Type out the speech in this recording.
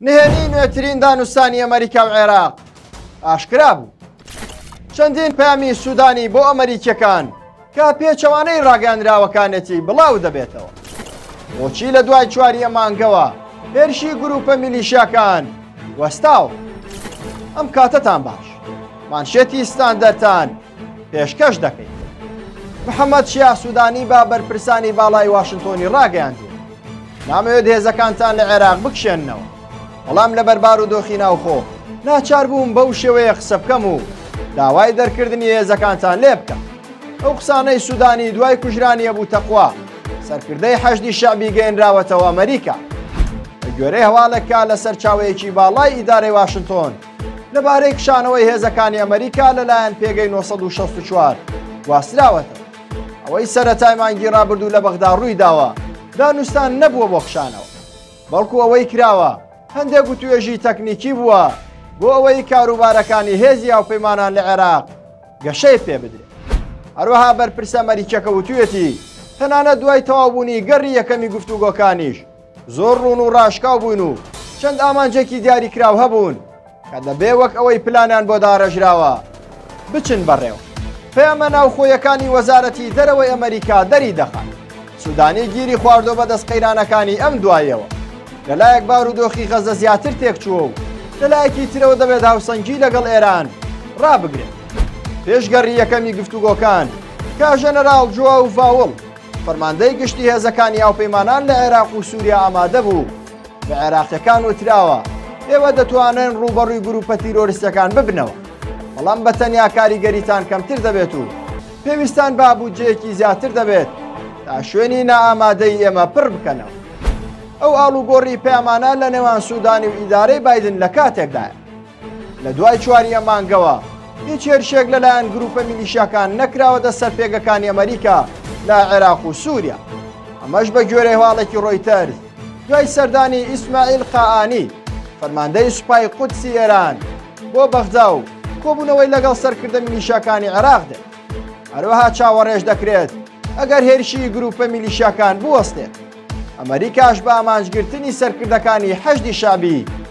نهێنیی نوێترین دانوستانی ئەمەریکا و عێراق ئاشکرا بوو. چەندین پەیامی سوودانی بۆ ئەمەریکییەکان کە پێچەوانەی ڕاگەیاندراوەکانێتی بڵاو دەبێتەوە. بۆچی لە دوای چوارییە مانگەوە هێرشی گروپە میلیشیاکان وەستاوە؟ ئەم کاتەتان باش. مانشێتی ستاندەرتان پێشکەش دەکەین. محەممەد شیا سوودانی بە بەرپرسانی باڵای واشنتۆنی ڕاگەیاندوو نامەوێت هێزەکانتان لە عێراق بکشێننەوە بەڵام لە بەربار و دۆخی ناوخۆ ناچار بووم بەو شێوەیە قسە بکەم و داوای دەرکردنی هێزەکانتان لێ بکەم ئەو قسانەی سوودانی دوای کوژرانیە بوو تەخوا سەرکردەی حەشدی شەعبی گەێنراوەتەوە ئەمریکا گوێرەی هەواڵێکە لە سەرچاوەیەکی باڵای ئیدارەی واشنتۆن لەبارەی کشانەوەی هێزەکانی ئەمریکا لەلایەن پێگەی 1964 گواستراوەتە ئەوەی سەرەتای مانگی ڕابردوو لە بەغدا ڕووی داوە دانوستان نەبووە بۆ خشانەوە بەڵکو ئەوەی کراوە هەندێک گوتوێژی تەکنیکی بووە بۆ ئەوەی کاروبارەکانی هێزی هاوپەیمانان لە عێراق گەشەی پێ بدرێت هەروەها بەرپرسە مەریکەکە وتوێتی تەنانە دوای تەوابوونی گەڕی یەکەمی گفتوگۆکانیش زۆر ڕوون و ڕاشکاو بوون و چەند ئامانجێکی دیاریکراو هەبوون کە دەبێ وەک ئەوەی پلانیان بۆ داڕێژراوە بچن بەڕێوە پەیامە ناوخۆیەکانی وەزارەتی دەرەوەی ئەمریکا دەری دەخات سودانی گیری خواردۆ بە دەست قەیرانەکانی ئەم دوایەوە لەلایەک بارودۆخی غەزە زیاتر تێکچووە و لەلایەکی ترەوە دەبێت هاوسەنگی لەگەڵ ئێران ڕابگرێت پێشگەڕی یەکەمی گفتوگۆکان کا ژەنەراڵ جووا و ڤاوڵ فەرماندەی گشتی هێزەکانی هاوپەیمانان لە عێراق و سووریا ئامادە بوو بە عێراقیەکان وتراوە ئێوە دەتوانن ڕووبەڕووی گروپە تیرۆریستەکان ببنەوە بەڵام بە تەنیا کاریگەریتان کەمتر دەبێت و پێویستان با بودجەیەکی زیاتر دەبێت تا شوێنی نائامادەی ئێمە پڕ بکەنەوە ئەو ئاڵوگۆڕی پەیامانە لە نێوان سوودانی و ئیدارەی بادن لە کاتێکدایە لە دوای چواریە مانگەوە هیچ هێرشێک لەلایەن گروپە میلیشاکان نەکراوەتە سەر پێگەکانی ئەمریکا لە عێراق و سووریا ئەمەش بە گوێرە هواڵێکی ڕۆیتەر دوای سەردانی ئیسماعیل قائانی فەرماندەی سوپای قودسی ئێران بۆ بەغدا و کۆبوونەوەی لەگەڵ سەرکردە میلیشاکانی عێراق دێت هەروەها چاوەڕێژ دەکرێت ئەگەر هێرشی گروپە میلیشاکان بوەستێت ئەمریکاش بە ئامانجگرتنی سەرکردەکانی حەشدی شابی